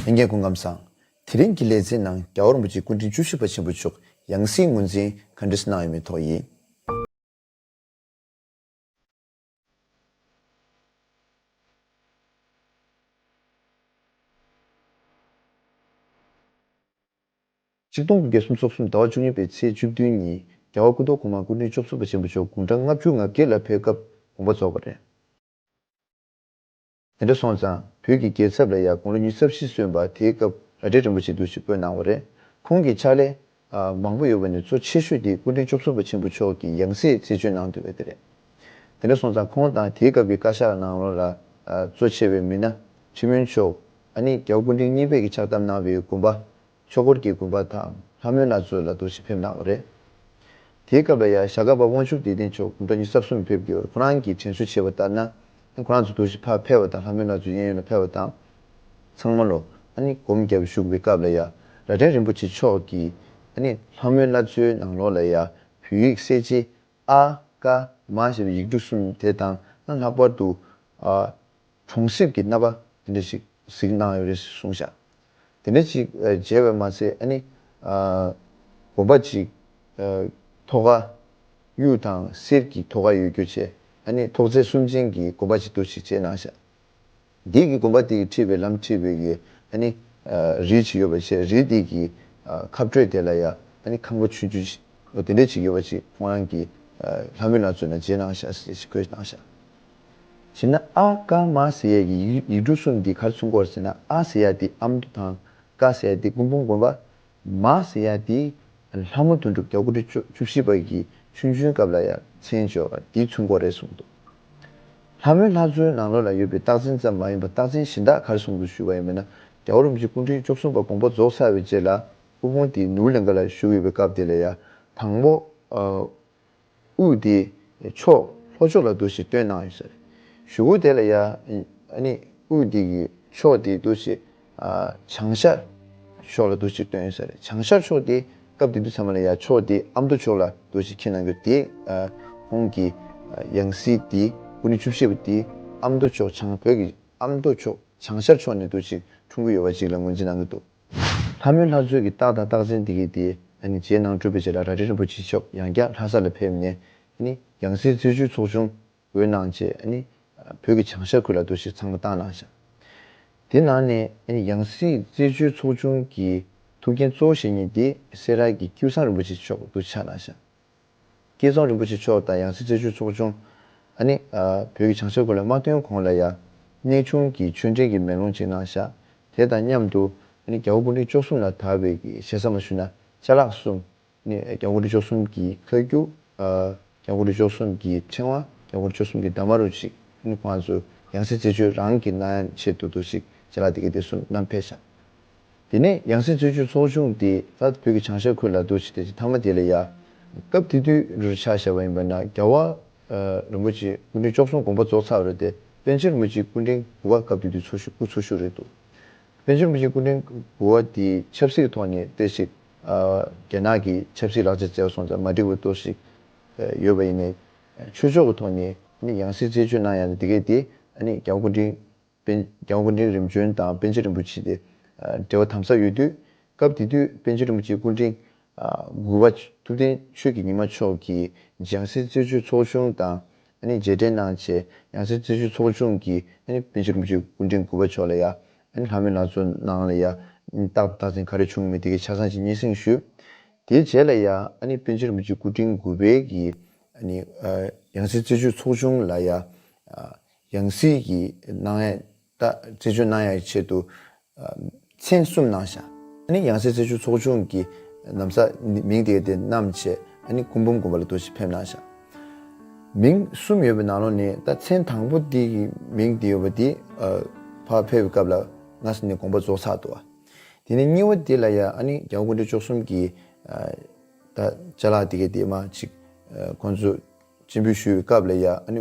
ལྷན་རྒྱས་སྐུ་ཁམས་བཟང། དེ་རིང་གི་ལེ་ཚན་ནང་རྒྱ་ཨོར་མོ་ཅིའི་སྐུ་དྲིན་བཅུ་བཞི་པ་ཆེན་པོ་མཆོག་ཡང་སྲིད་ངོས་འཛིན་ག་འདྲི་གནང་ཡོད་མེད་ཐོག་ཡིན། གཅིག་སྟོང་དགུ་བརྒྱ་སུམ་ཚོགས་གསུམ་ཟླ་བ་བཅུ་གཉིས་པའི་ཚེས་བཅུ་བདུན་ཉིན་རྒྱ་ཨོར་སྐུ་མདོག་གོང་མ་སྐུ་དྲིན་བཅུ་བཞི་པ་ཆེན་པོ་མཆོག་དགུང་གྲངས་ལྔ་བཅུ་ང་བརྒྱད་ལ་ཕེབས་སྐབས་དགོངས་པ་རྫོགས་པ་རེད། དེ་འདྲ་སོང་ཙང་བོད་ཀྱི་རྒྱལ་ཚབ་ལ་ཡང་དགུང་ལོ་ཉི་ཚབ་བཞི་སོན་པ་དེའི་སྐབས་ར་སྒྲེ་རིན་པོ་ཆེ་འདུག་ཅེས་བཀོད་གནང་བ་རེད། ཁོང་གི་ཕྱག་ལས། མང་པོ་ཡོད་པ་ནས་གཙོ་ཆེ་ཤོས་དེ་སྐུ་མགྲོན་བཅུ་གསུམ་པ་ཆེན་པོ་མཆོག་གིས་ཡང་སྲིད་རྩིས་སྤྱོད་གནང་འདོད་པ་དེ་རེད། དེ་འདྲ་སོང་ཙང་ཁོང་དང་དེའི་སྐབས་ཀྱི་བཀའ་ཤག་ནང་རོང་ལ་གཙོ་ཆེ་བའི་མི་སྣ། ཁྲི་སྨོན་མཆོག། ཨ་ནི་རྒྱའུ་སྐུ་མགྲོན་གཉིས་བོད་ཀྱི་ཕྱག་བཏབ་གནང་བའི་དགོན་པ། ཆོས་འཁོར་གྱི་དགོན་པ་དང་ལྷ་མོའི་ན་ཚོད་ལ་རྡོ་ཞིག་ཕེབས་གནང་བ་རེད། དེའི་སྐབས་ལ་ཡང་ཞྭ་སྒ་པ་དབང་ཕྱུག་བདེ་ལྡན་མཆོག་དགུང་གྲངས་ཉི་ས་གསུམ་ཕེབས་རྒྱུར་ཁོ་རང་གིས་དྲན་གསོ་བྱས་པ་ལྟར་ན། ཁོ་རང་ཚོ་རྡོ་ཞིག་ཕར་ཕེབས་བ་དང་ལྷ་མོའི་ན་ཚོད་གཡས་གཡོན་ལ་ཕེབས་བ་དང། ཚང་མ་ལོ་ཨ་ནི་སྒོམ་རྒྱབ་བཞུགས་པའི་སྐབས་ལ་ཡང་རྭ་སྒྲེང་རིན་པོ་ཆེ་མཆོག་གིས་ཨ་ནི་ལྷ་མོའི་ན་ཚོད་ནང་ལོགས་ལ་ཡང་བོད་ཡིག་གསལ་བྱེད་ཨ། ཀ། མ་ཞེས་པའི་ཡིག་འབྲུ་གསུམ་དེ་དང་ལྷག་པར་དུ། ཨ། གྲོང་གསེབ་ཀྱི་རྣམ་པ་དེ་འདྲ་ཞིག་གཟིགས་གནང་ཡོད་རེད་ཟེར་གསུངས་བཞག་དེ་འདྲ་ཞིག་མཇལ་བས་མ་ཚད་ཨ་ནི། དགོན་པ་ཅིག་ཐོག་ཁ་གཡུ་དང་གསེར་གྱི་ཐོག་ཁ་ཡོད་རྒྱུ་བཅས་ཨ་ནི་ཐོག་བརྩེགས་གསུམ་ཅན་གྱི་དགོན་པ་ཞིག་འདུག་ཞིག་མཇལ་གནང་བཞག་འདིའི་གི་དགོན་པ་དེ་གི་ཁྲིད་པའི་ལམ་ཁྲིད་པའི་གི་ཨ་ནི། རིས་ཞིག་ཡོད་པ་ཞེས་རིས་དེ་གི་ཁ་བགྲོད་དེ་ལ་ཡ་ཨ་ནི་ཁང་པ་ཆུང་ཆུང་ཞིག་དེ་འདྲ་ཞིག་ཡོད་པ་ཞིག་ཁོང་རང་གི་ལྷ་མོས་ལ་མཚོན་ན་མཇལ་གནང་བཞག་ཟེར་ཞིག་བཀོད་གནང་བཞག་བྱས་ན་ཨ་ཀ་མ་ཟེ་ཡས་ཀྱི་ཡིག་འབྲུ་གསུམ་གྱི་ཁར་ཚུན་སྐོར་བྱས་ན་ཨ་ཟེ་ཡ་དེ་ཨ་མདོ་དང་ཀ་ཟེ་ཡ་དེ་སྐུ་འབུམ་དགོན་པ། མ་ཟེ་ཡ་དེ་ལྷ་མོ་དོན་གྲུབ་རྒྱ་དགུ་ཁྲི་བཅུ་བཞི་པ་གྱི་ཆུང་ཆུང་སྐབས་ལ་ཡ་མཚན་བཅོས་པ་དེའི་ཚུན་སྐོར་རེད་གསུངས་འདུག་ལྷ་མོའི་ལྷ་གཙོའི་ནང་ལོགས་ལ་ཡོད་པའི་རྟགས་མཚན་ཙམ་མ་ཡིན་པར་རྟགས་མཚན་གཞན་དག་ཁར་སོང་དུ་བཞུགས་པ་ཡིན་པས་ན་རྒྱ་བོ་རིན་པོ་ཆེ་སྐུ་ཕྲེང་བཅུ་གསུམ་པ་དགོངས་པ་རྫོགས་ཚར་བའི་རྗེས་ལ་སྐུ་ཕུང་དེ་ནུབ་ལིངྒ་ལ་བཞུགས་ཡོད་པའི་སྐབས་དེ་ལ་ཡ་དང་པོ། དབུས་དེའི་ཕྱོགས་ལྷོ་ཕྱོགས་ལ་འདུ་ཞེས་སྟོན་གནང་ཡོད། ཞུ་བོ་དེ་ལ་ཡང་དབུས་དེ་ཀྱི་ཕྱོགས་དེའི་འདུ་ཞེས་བྱང་ཤར་ཕྱོགས་ལ་འདུ་ཞེས་སྟོན་ཡོད། བྱང་ཤར་ཕྱོགས་དེ་སྐབས་དེ་དུས་ཚང་མ་ལ་ཡང་ཕྱོགས་དེའི་ཨ་མདོ་ཕྱོགས་ལ་འདུ་ཞེས་ཁས་གནང་རྒྱུ་དེ་ཁོང་གི་ཡང་སྲིད་དེ་དབུ་ནི་བཅུ་བཞི་པ་དེ་ཨ་མདོ་ཕྱོགས་བྱང་བོད་ཀྱི་ཨ་མདོ་ཕྱོགས་བྱང་ཤར་ཕྱོགས་ནས་འདུ་ཞེས་འཁྲུངས་ཀྱི་ཡོད་པ་ཞིག་ལ་ངོས་འཛིན་གནང་གི་འདུག། ལྷ་མོའི་ལྷ་མཛོད་ཀྱི་རྟགས་དང་རྟགས་མཚན་དེ་གའི་དེ་རྗེས་གནང་སྤྲུལ་པའི་རྗེ་ལ་ར་རི་རིན་པོ་ཆེ་མཆོག་ཡང་བསྐྱར་ལྷ་ས་ལ་ཕེབས་ནས། ཡང་སྲིད་རྩེ་ཆུའི་ཚོགས་ཆུང་འོས་གནང་བྱས། བོད་ཀྱི་བྱང་ཤར་ཁུལ་ལ་འདུ་ཤེས་ཚང་མ་བཏང་གནང་བྱ། དེ་ནང་ནས་ཡང་སྲིད་རྩེ་ཆུའི་ཚོགས་ཆུང་གི་ཐུགས་འགན་གཙོ་བོ་ཞེ་གཉིས་དེ་སེ་ར་གི་ཀྱུ་སངས་རིན་པོ་ཆེ་མཆོག་འདུ་ཆགས་གནང་བྱ། བསྐལ་བཟང་རིན་པོ་ཆེ་མཆོག་དང་ཡང་སྲིད་རྩེ་ཆོས་ཚོགས་ཆུང། ཨ་ནི། བོད་ཀྱི་བྱང་ཤར་གོ་ལའི་དམག་དོན་གོང་ལ་ཡང། གནས་ཆུང་གི་ཆོས་འབྲེལ་གྱི་མེ་ལོང་ཅིག་གནང་བཞག་དེ་དང་མཉམ་དུ། ཨ་ནི། རྒྱ་བོད་གུང་ཁྲན་བཅོ་གསུམ་ལ་དར་བའི་གཞེ་ས་མ་ཞུ་ན་ཅལ་ལགས་གསུམ། ཨ་ནི། རྒྱ་གུང་ཁྲན་བཅོ་གསུམ་གྱི་ཁ་རྒྱུག། རྒྱ་གུང་ཁྲན་བཅོ་གསུམ་གྱི་ཕྲེང་བ། རྒྱ་གུང་ཁྲན་བཅོ་གསུམ་གྱི་འདབ་མ་རུ་ཅིག་ཨ་ནི། ཁོང་ཚོ་ཡང་སྲིད་རྩེ་ཆོས་རང་གི་གནའ་ཆས་དུ་དུ་ཅིག་ཅལ་ལགས་དེ་ག་དེ་གསུམ་བསྣམས་ཕེབས་བཞག་དེ་ནས་ཡང་སྲིད་བཙོན་ཆུ་ཚོགས་ཆུང་དེ་དག་བོད་ཀྱི་བྱང་ཤར་ཁུལ་ལ་རྡོ་ཆེ་ཐེལ་གྱི་མཐའ་མ་དེ་ལ་ཡར། སྐབས་དེ་དུས་རུ་ཆ་བཞག་པ་ཡིན་པ་ན་རྒྱལ་བ། རིན་པོ་ཆེ་སྐུ་ཕྲེང་བཅོ་གསུམ་དགོངས་པ་རྫོགས་ཚར་བ་རེད་དེ་པན་ཆེན་རིན་པོ་ཆེའི་སྐུ་ཕྲེང་དགུ་བ་སྐབས་དེ་དུས་ཚོ་ཤུ་སྐུ་ཚོ་ཤུ་རེད་འདུག་པན་ཆེན་རིན་པོ་ཆེའི་སྐུ་ཕྲེང་དགུ་བ་དེས་ཆབ་སྲིད་ཐོག་ནས་བལྟས་ཤིག། རྒྱ་ནག་གི་ཆབ་སྲིད་ལག་ཆ་བཙལ་སོང་ཙང་མ་འགྲིག་པ་གཏོར་ཤིག། ཡོད་པ་ཡིན། ཆོས་ཕྱོགས་ཀྱི་ཐོག་ནས་ཡང་སྲིད་རྩད་གཅོད་གནང་ཡག་ན་དེ་གས་དེ། རྒྱལ་བ་སྐུ་ཕྲེང་པན་རྒྱང་སྐུ་འཕྲེང་རིམ་བྱོན་དང་པན་ཆེན་རིན་པོ་ཆེ་དེ་འབྲེལ་བ་དམ་ཟབ་ཡོད་དུས། སྐབས་དེ་དུས་པན་ཆེན་རིན་པོ་ཆེའི་སྐུ་འཕྲེང་དགུ་བ་ཐུབ་བསྟན་ཆོས་ཀྱི་ཉི་མ་མཆོག་གིས་འཇང་སྲས་རྩེ་ཆུ་ཚོགས་ཆུང་དང་མཇལ་འཕྲད་གནང་རྗེས་འཇང་སྲས་རྩེ་ཆུ་ཚོགས་ཆུང་གིས་པན་ཆེན་རིན་པོ་ཆེའི་སྐུ་འཕྲེང་དགུ་བ་མཆོག་ལ་ཡང་ལྷ་མོའི་ལང་ཚོ་གནང་ལ་ཡང་ཏག་ཏག་ཟིན་ག་རེ་བྱུང་མེད་དེ་གའི་ཆ་ཚང་ཞིག་སྙན་སེང་ཞུས། དེའི་རྗེས་ལ་ཡང་པན་ཆེན་རིན་པོ་ཆེའི་སྐུ་འཕྲེང་དགུ་བས་ཀྱིས་འཇང་སྲས་རྩེ་ཆུ་ཚོགས་ཆུང་ལ་ཡང་ཡང་སྲིད་ཀྱི་སྣང་བས་རྟ་རྩེ་ཆུ་སྣང་ཡང་ཆེད་དུ་མཚན་གསུམ་སྣང་བྱ། ནི་ཡང་སྲིད་རྩེ་ཆུ་ཚོགས་ཆུང་གི་ནམ་ས་མིང་དེའི་དེ་རྣམས་ཆེ། ནི་སྐུ་འབུམ་དགོན་པ་ལ་དུ་ཞིག་ཕེབས་སྣང་བྱ། མིང་གསུམ་ཡོད་པའི་ནང་ལོགས་ནི་རྟ་མཚན་དང་པོ་དེ་ཀྱི་མིང་དེ་ཡོད་པ་དེ། ཕར་ཕེབས་སྐབས་ལ་ང་ས་ནི་དགོངས་པ་རྫོགས་ཚར་དུ་བ། དེ་ནས་གཉིས་བ་དེ་ལ་ཡ་ཨ་ནི་རྒྱལ་བ་ཀུན་གྲོལ་མཆོག་གསུམ་གྱི་རྟ་བཅའ་ལག་དེ་ཀའི་དེ་མ་ཅིག་ཁོང་ཚོ་སྤྱི་འབུལ་ཞུས་བའི་སྐབས་ལ་ཡ་ཨ་ནི་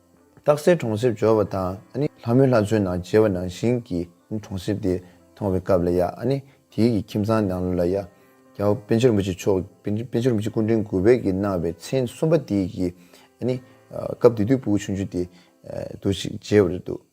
རྟགས་གསལ་གྲོང་གསེབ་འབྱོར་བ་དང། ལྷ་མོའི་ལྷ་མཚོའི་ནང་མཇལ་བ་ནང་བཞིན་གྱི་གྲོང་གསེབ་དེ་མཐོང་བའི་སྐབས་ལ་ཡང། དེའི་གི་ཁྱིམ་ཚང་ནང་ལོ་ལ་ཡང། རྒྱལ་བ་དཔལ་ཆེན་རིན་པོ་ཆེ་མཆོག་དཔལ་ཆེན་རིན་པོ་ཆེ་སྐུ་ཕྲེང་དགུ་བས་ཀྱིས་གནང་བའི་མཚན་གསུམ་པ་དེའི་གི། སྐབས་དེ་དུས་སྤུ་གུ་ཆུང་ཆུང་དེ། དུ་ཞིག་མཇལ་བ་རེད་འདུག།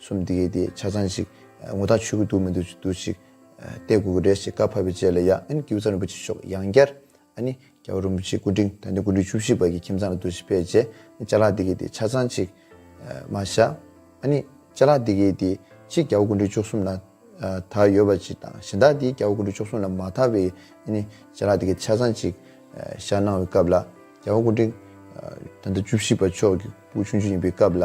གསུམ་དེ་གས་དེ་ཆ་ཚང་ཞིག་ངོ་ཐག་ཆོད་གི་འདུག་མི་འདུག་འདུག་ཞིག་བལྟས་དགོས་ཀི་རེད་ཞེས་བཀའ་ཕབ་པའི་རྗེས་ལ་ཡང་ཨན་ཀི་བུ་ཚང་རིན་པོ་ཆེ་ཤོག་ཡང་བསྐྱར་ཨ་ནི་རྒྱ་བོད་རིན་པོ་ཆེའི་སྐུ་དྲིན་དང་དེ་སྐུ་དྲིན་བཅུ་བཞི་པ་གི་ཁྱིམ་ཚང་ལ་འདུག་ཞིག་ཕེབས་རྗེས་ཨ་ནི་བཅའ་ལག་དེ་གས་དེ་ཆ་ཚང་ཞིག་མ་བཞག་ཨ་ནི་བཅའ་ལག་དེ་གས་དེ་གཅིག་རྒྱ་བོ་སྐུ་དྲིན་བཅུ་གསུམ་ལ་དར་ཡོད་པ་ཅིག་དང་གཞན་དག་དེ་རྒྱ་བོ་སྐུ་དྲིན་བཅུ་གསུམ་ལ་མ་དར་བའི་ཨ་ནི་བཅའ་ལག་དེ་གས་ཆ་ཚང་ཞིག་བཞག་གནང་བའི་སྐབས་ལ་རྒྱ་བོ་སྐུ་དྲིན་ད་ལྟ་བཅུ་བཞི་པ་མཆོག་གི་སྐུ་ཆུང་ཆུང་ཡིན་པའི་སྐབས་ལ།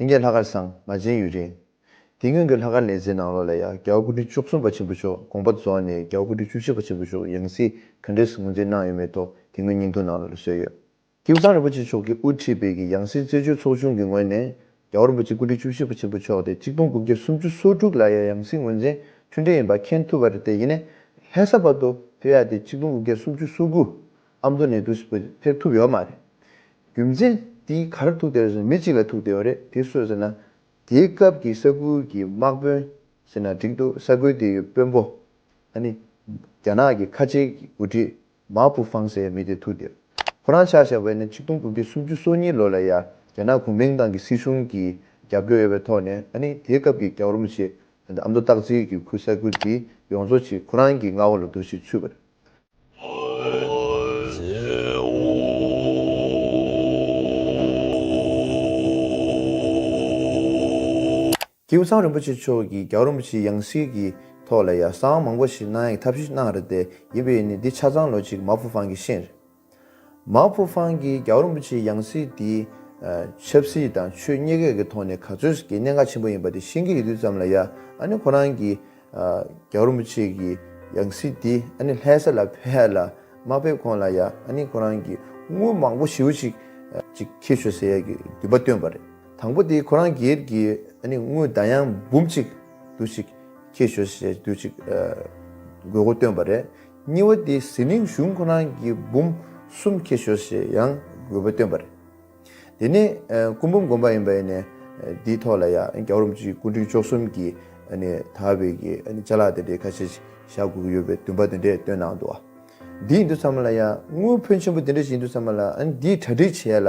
ལྷན་རྒྱས་ལྷག་དཀར་ཟངས་མ་ཅན་ཡུལ་རིང། དེ་སྔོན་གྱི་ལྷག་དཀར་ལས་རྩེའི་ནང་ལོགས་ལ་ཡ་རྒྱལ་སྐུ་ཕྲེང་བཅུ་གསུམ་པ་ཆེན་པོ་མཆོག་དགོངས་པ་རྫོགས་ནས་རྒྱལ་སྐུ་ཕྲེང་བཅུ་བཞི་པ་ཆེན་པོ་མཆོག་ཡང་སྲིད་ག་འདྲས་སུ་ངོས་འཛིན་གནང་ཡོད་མེད་ཐོག་དེ་སྔོན་སྙིང་ཐུང་ནང་ལོགས་ལ་བཟོས་ཡོད། ཀིམ་ཚང་རིན་པོ་ཆེ་མཆོག་གིས་དབུ་ཁྲིད་སྤེལ་གྱི་ཡང་སྲིད་རྩེ་ཆོས་ཚོགས་ཆུང་གི་ངོས་ནས་རྒྱལ་བ་རིན་པོ་ཆེ་སྐུ་ཕྲེང་བཅུ་བཞི་པ་ཆེན་པོ་མཆོག་དེ་གཅིག་སྟོང་དགུ་བརྒྱ་སུམ་ཅུ་སོ་དྲུག་ལ་ཡ་ཡང་སྲིད་ངོས་འཛིན་མཐུན་འབྲེལ་ཡིན་པ་མཁྱེན་ཐུབ་པར་བརྟེན་ཡེ་ནས་ལྷས་ས་བར་དུ་བོད་ཡ་དེ་གཅིག་སྟོང་དགུ་བརྒྱ་སུམ་ཅུ་སོ་དགུ་ཨ་མདོ་ནས་བདུད་རྩི་བོད་དུ་ཕེབས་ཐུབ་ཡོད་མ་རེད། རྒྱུ་མཚན་དེ་ག་རེ་ཐུག་དེ་ཟེར་ན་མི་གཅིག་ལ་ཐུག་དེ་ཡོད་རེད་དེ་སུ་ཟེར་ན། དེའི་སྐབས་ཀྱི་ས་ཁུལ་གྱི་དམག་དཔོན་ཟེར་ན་འགྲིག་འདུག་ས་ཁུལ་དེའི་དཔོན་པོ་ཨ་ནི་རྒྱ་ནག་གི་ཁ་ཆེའི་འགོ་ཁྲིད་མཱ་པུ་ཧྥང་ཟེར་བའི་མི་དེ་ཐུག་དེ་རེད། ཁོ་རང་ཕྱག་བཞག་པ་ནི་ཆིག་སྟོང་དགུ་བརྒྱ་སུམ་ཅུ་སོ་གཉིས་ལོ་ལ་ཡ་རྒྱ་ནག་གུང་མེང་ཏང་གི་སྲིད་གཞུང་གིས་རྒྱབ་སྐྱོར་ཡོད་པའི་ཐོག་ནས་ཨ་ནི་དེའི་སྐབས་ཀྱི་རྒྱ་རོམ་ཆེ་ཨ་མདོ་སྟག་རྩེའི་གུ་ས་ཁུལ་དེ་ཡོངས་རྫོགས་ཆེ་ཁོ་རང་གི་མངའ་འོག་ལ་འདུ་ཞེས་ཚུད་པ་རེད། ཀྱེའུ་ཚང་རིན་པོ་ཆེ་མཆོག་གིས་རྒྱ་གར་རིན་པོ་ཆེའི་ཡང་སྲིད་ཀྱི་ཐོག་ལ་ཡ་གསང་མང་པོ་ཞིག་གནང་ཡས་ཐབས་ཤེས་གནང་རེད་དེ་ཡིན་པས་ནི་འདི་ཆ་ཚང་ལོ་གཅིག་མ་ཕུ་ཕང་གི་ཤེས། མའོ་ཕུ་ཧྥང་གིས་རྒྱ་བོད་རིན་པོ་ཆེའི་ཡང་སྲིད་དེ། ཆབ་སྲིད་དང་ཆོས་གཉིས་ཀས་ཀྱི་ཐོག་ནས་ག་ཚོད་ཀྱི་གནད་འགག་ཆེན་པོ་ཡིན་པ་དེ་ཤེས་ཀྱི་ཡོད་དུས་ཙམ་ལ་ཡ་ཨ་ནི་ཁོ་རང་གིས། རྒྱ་བོད་རིན་པོ་ཆེ་གི་ཡང་སྲིད་དེ་ཨ་ནི་ལྷའི་ས་ལ་ཕེབས་ལ་མ་ཕེབས་གོང་ལ་ཡ་ཨ་ནི་ཁོ་རང་གིས་དངུལ་མང་པོ་ཞིབ་ཅིག་ཅིག་ཁྱེར་ཤོག་ཟེར་ཡ་གི་འདུན་པ་བཏོན་པ་རེད་དང་པོ་དེ་ཁོ་རང་སྒེར་གྱི་ཨ་ནི་དངུལ་བརྡ་ཡང་འབུམ་གཅིག་དུ་ཅིག་ཁྱེར་ཤོག་ཟེར་དུས་ཅིག་དགོས་མཁོ་བཏོན་པ་རེད། གཉིས་བ་དེ་ཟི་ལིང་གཞུང་ཁོ་རང་གི་འབུམ་གསུམ་ཁྱེར་ཤོག་ཞེས་ཡང་དགོས་པ་བཏོན་པ་རེད། དེ་ནས་སྐུ་འབུམ་དགོན་པ་ཡིན་པ་ནས་དེའི་ཐོག་ལ་ཡང་རྒྱ་གར་རོམ་གྱི་སྐུ་འཁྲུངས་ཆོག་གསུམ་གྱི་དར་བའི་ཆ་ལག་དེ་འདྲའི་ཁ་ཤས་བཞག་དགོས་ཀྱི་ཡོད་པའི་འདུན་པ་དེ་འདྲས་བཏོན་གནང་འདུག་བ། འདི་ཡིན་དུས་ཚང་མ་ལ་ཡང་དངུལ་ཕོན་ཆེན་པོ་དེ་འདྲས་ཞིག་ཡིན་དུས་ཚང་མ་ལ་འདིའི་གྲ་སྒྲིག་བྱས་ལ་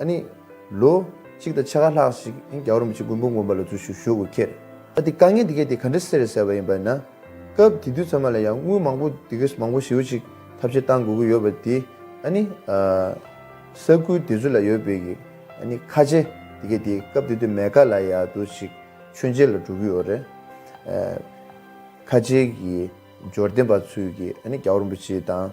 ཨ་ནི། ལོ། གཅིག་དང་ཕྱེད་ཀ་ལྷག་ཞིག་ཨིན་རྒྱ་བོར་མི་བྱེད་རྒུན་འབུམ་དགོན་པ་ལ་འཛུལ་ཞུགས་ཞུ་དགོས་ཁྱེར། ཨ་དེ་དཀའ་ངལ་དེ་གས་དེ་ག་འདྲ་སེ་རེད་ཟེར་བ་ཡིན་པ་ན། སྐབས་དེ་དུས་ཚང་མ་ལ་ཡང་དངུལ་མང་པོ་དེ་གས་མང་པོ་ཞིའུ་ཅིག་ཐབས་ཆེ་གཏང་དགོས་ཀྱི་ཡོད་པ་དེ་ཨ་ནི། ས་ཁུལ་དེ་ཚོ་ལ་ཡོད་པའི་གི་ཨ་ནི་ཁ་ཆེ་དེ་གས་དེ་སྐབས་དེ་དུས་མེ་ཀ་ལ་ཡ་དུ་ཞིག་མཆོད་མཇལ་ལ་འགྲོ་གི་ཡོད་རེད། ཁ་ཆེའི་གི་འབྱོར་ལྡན་པ་ཚོའི་གི་ཨ་ནི་རྒྱ་བོར་མི་བྱེད་དང